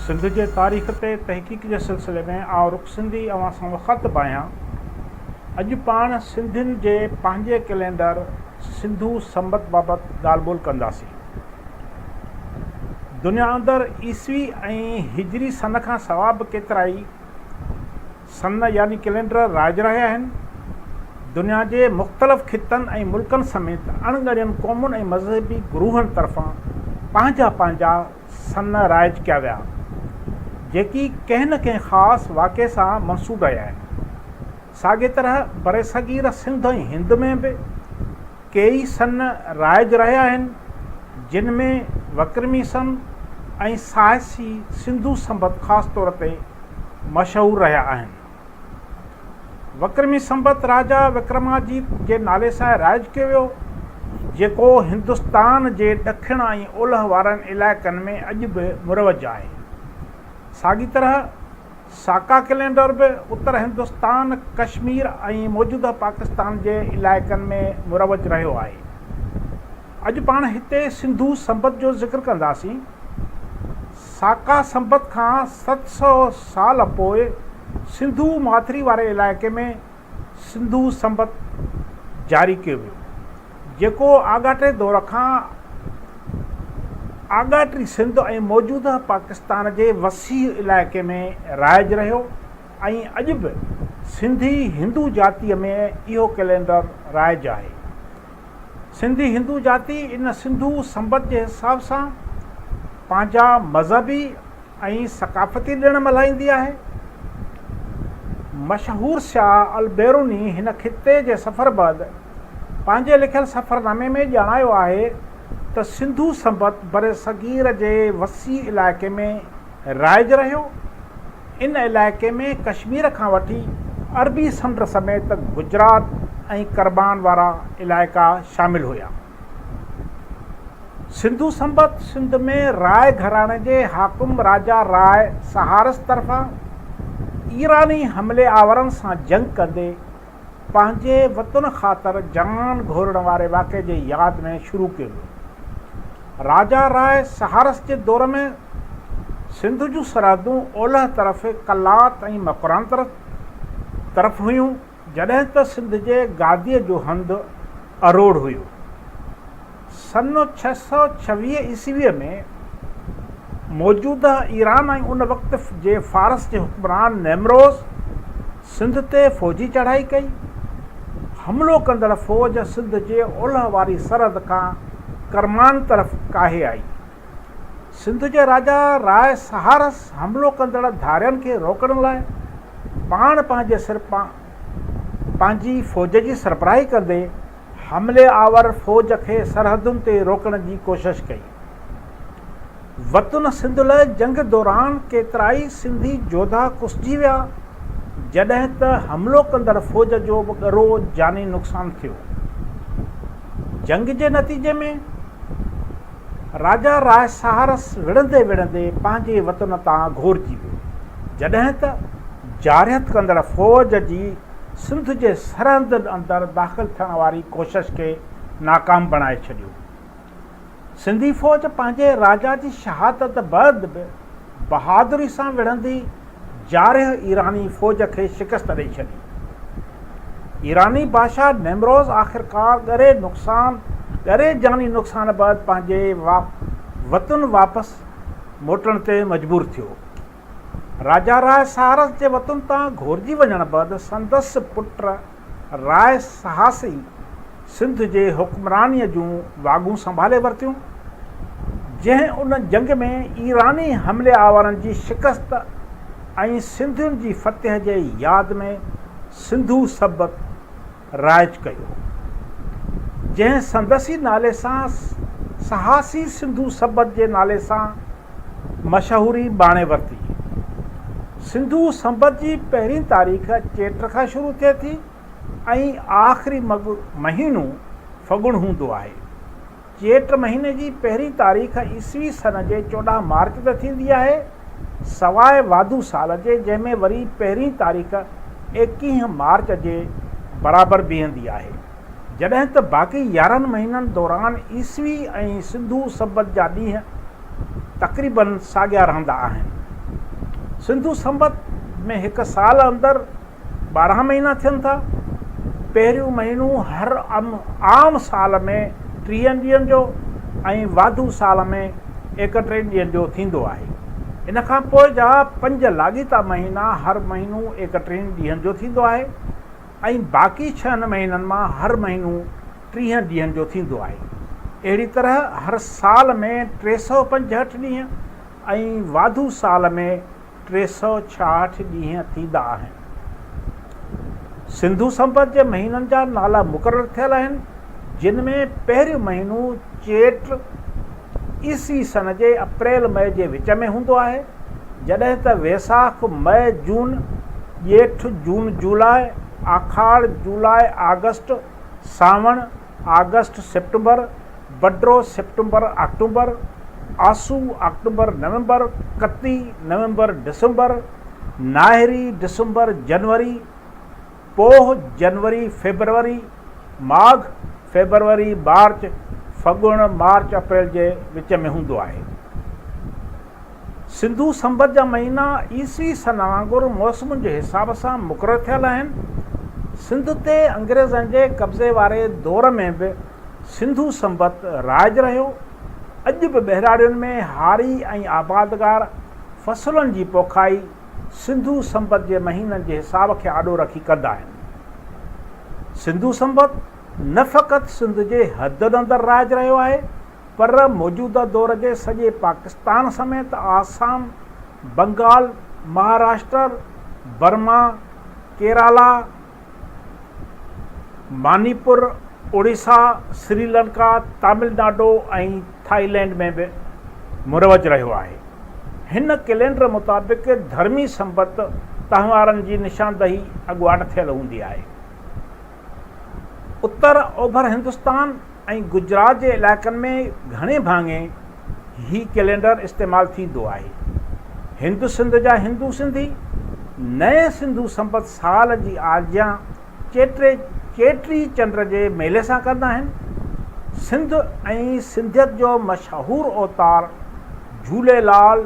سنڌ جي تاريخ تي تحقيق جي سلسلي ۾ آئون رخ سنڌي اوهان سان مخاطب آهيان. اڄ پاڻ سنڌين جي پنهنجي ڪئلينڊر سنڌو سنبت بابت ڳالهه ٻولهه ڪنداسين. دنيا اندر عيسوي ۽ هجري سن کان سوا به ڪيترائي سن يعني ڪئلينڊر رائج رهيا آهن. دنيا جي مختلف خطن ۽ ملڪن سميت اڻ ڳڻين قومن ۽ مذهبي گروهن طرفان پنهنجا پنهنجا سن رائج ڪيا ويا جيڪي ڪنهن نه ڪنهن خاص واقعي سان منسوب رهيا آهن. ساڳي طرح برصغير سنڌ ۽ هند ۾ به. ڪيئي سن رائج رهيا آهن، جن ۾ وڪرمي سن ۽ ساهسي سنڌو سنبت خاص طور تي مشهور رهيا آهن. وڪرمي سنبت راجا وڪرماجيت جي نالي سان رائج ڪيو ويو، جيڪو هندستان جي ڏکڻ ۽ اولهه وارن علائقن ۾ اڄ به مروج آهي. ساڳي طرح، ساڪا ڪئلينڊر به اتر هندستان، ڪشمير ۽ موجوده پاڪستان جي علائقن ۾ مروج رهيو آهي. اڄ پاڻ هتي سنڌو سنبت جو ذڪر ڪنداسين. ساڪا سنبت کان ست سؤ سال اڳ پوء سنڌو ماٿري واري علائقي ۾ سنڌو سنبت جاري ڪيو ويو، جيڪو آڳاٽي دور کان آڳاٽي سنڌ ۽ موجوده پاڪستان جي وسيع علائقي ۾ رائج رهيو ۽ اڄ به سنڌي هندو جاتيء ۾ اهو ڪئلينڊر رائج آهي. سنڌي هندو جاتي ان سنڌو سنبت جي حساب سان پنهنجا مذهبي ۽ ثقافتي ڏڻ ملهائيندي آهي. مشهور سياح البيروني هن خطي جي سفر بعد پنهنجي لکيل سفرنامي ۾ ڄاڻايو آهي ته سنڌو سنبت برصغير جي وسيع علائقي ۾ رائج رهيو. ان علائقي ۾ ڪشمير کان وٺي عربي سمنڊ سميت گجرات ۽ ڪربان وارا علائقا شامل هيا. سنڌو سنبت سنڌ ۾ راء گهراڻي جي حاڪم راجا راء سهارس طرفان ايراني حملي آورن سان جنگ ڪندي پنهنجي وطن خاطر جان گهورڻ واري واقعي جي ياد ۾ شروع ڪيو ويو. راجا راء سهارس جي دور ۾ سنڌ جون سرحدون اولهه طرف قلات ۽ مڪران طرف هيون. جڏهن ته سنڌ جي گاديء جو هنڌ اروڙ هيو. سن ڇهه سؤ ڇويهه عيسويء ۾ موجوده ايران ۽ ان وقت جي فارس جي حڪمران نيمروز سنڌ تي فوجي چڙهائي ڪئي. حملو ڪندڙ فوج سنڌ جي اولهه واري سرحد کان ڪرمان طرف ڪاهي آئي. سنڌ جي راجا راء سهارس حملو ڪندڙ ڌارين کي روڪڻ لاء پاڻ پنهنجي سر پنهنجي فوج جي سربراهي ڪندي حملي آور فوج کي سرحدن تي روڪڻ جي ڪوشش ڪئي. وطن سنڌ لئه جنگ دوران ڪيترائي سنڌي جوڌا ڪسجي ويا جڏهن ته حملو ڪندڙ فوج جو به ڳرو جاني نقصان ٿيو. جنگ جي نتيجي ۾. راجا راء سهارس وڙهندي وڙهندي پنهنجي وطن تان گهورجي ويو، جڏهن ته جارحيت ڪندڙ فوج جي سنڌ جي سرحدن اندر داخل ٿيڻ واري ڪوشش کي ناڪام بڻائي ڇڏيو. سنڌي فوج پنهنجي راجا جي شهادت بعد به بهادري سان وڙهندي جارح ايراني فوج کي شڪست ڏئي ڇڏي. ايراني بادشاهه نيمروز آخرڪار ڳري نقصان ڳري جاني نقصان بعد پنهنجي وطن واپس موٽڻ تي مجبور ٿيو. راجا راء ساهرس جي وطن تان گهورجي وڃڻ بعد سندس پٽ راء سهاس ئي سنڌ جي حڪمرانيء جون واڳون سنڀالي ورتيون، جنهن ان جنگ ۾ ايراني حملي آورن جي شڪست ۽ سنڌين جي فتح جي ياد ۾ سنڌو سبت رائج ڪيو، جنهن سندس ئي نالي سان سهاسي سنڌو سبت جي نالي سان مشهوري ماڻي ورتي. سنڌو سنبت جي پهرين تاريخ چيٽ کان شروع ٿئي ٿي ۽ آخري مهينو ڦڳڻ هوندو آهي. چيٽ مهيني جي پهرين تاريخ عيسوي سن جي چوڏهن مارچ تي ٿيندي آهي، سواء واڌو سال جي جنهن ۾ وري پهرين تاريخ ايڪيهه مارچ جي برابر بيهندي آهي. جڏهن ته باقي يارهن مهينن دوران عيسوي ۽ سنڌو سنبت جا ڏينهن تقريباً ساڳيا رهندا آهن. سنڌو سنبت ۾ هڪ سال اندر ٻارهن مهينا ٿين ٿا. پهريون مهينو هر عام سال ۾ ٽيهن ڏينهن جو ۽ واڌو سال ۾ ايڪٽيهن ڏينهن جو ٿيندو آهي. ان کان پوء جا پنج لاڳيتا مهينا هر مهينو ايڪٽيهن ڏينهن جو ٿيندو آهي. ۽ باقي ڇهن مهينن مان هر مهينو ٽيهن ڏينهن جو ٿيندو آهي. اهڙي طرح هر سال ۾ ٽي سؤ پنجهٺ ڏينهن ۽ واڌو سال ۾ ٽي سؤ ڇاهٺ ڏينهن ٿيندا آهن. سنڌو سنبت جي مهينن جا نالا مقرر ٿيل آهن جن ۾ پهريون مهينو چيٽ، عيسوي سن جي اپريل مئي جي وچ ۾ هوندو آهي، جڏهن ته ويساک مئي جون، ڄيٺ جون جولاء، آکاڙ جولاء آگسٽ، سانوڻ آگسٽ سيپٽمبر، بڊرو سيپٽمبر آڪٽوبر، آسو آڪٽوبر نومبر، ڪتي نومبر ڊسمبر، ناهري ڊسمبر جنوري، پوھ، جنوري، فيبروري، ماگھ، فيبروري، مارچ، فڳڻ، مارچ، اپريل جي وچ ۾ ھوندو آھي. سنڌو سنبت جا مھينا عيسوي سن وانگر موسمن جي حساب سان مقرر ٿيل آھن. سنڌ تي انگريزن جي قبضي واري دور ۾ به سنڌو سنبت رائج رھيو. اڄ به ٻهراڙين ۾ ھاري ۽ آبادگار فصلن جي پوکائي، سنڌو سنبت جي مهينن جي حساب کي آڏو رکي ڪندا آهن. سنڌو سنبت نه فقط سنڌ جي حدن اندر رائج رهيو آهي پر موجوده دور جي سڄي پاڪستان سميت Assam, Bengal, Maharashtra, Burma, Kerala, Manipur, Orissa, Sri Lanka, Tamil Nadu ۽ Thailand ۾ به مروج رهيو آهي. هن ڪئلينڊر مطابق ڌرمي سنبت تهوارن جي نشاندهي اڳواٽ ٿيل هوندي آهي. اتر اوڀر هندستان، ۽ گجرات جي علائقن ۾ گهڻي ڀاڱي هي ڪئلينڊر استعمال ٿيندو آهي. هند سنڌ جا هندو سنڌي نئين سنڌو سنبت سال جي آجيان چيٽي چيٽي چنڊ جي ميلي سان ڪندا آهن. سنڌ ۽ سنڌيت جو مشهور اوتار جهوليلال،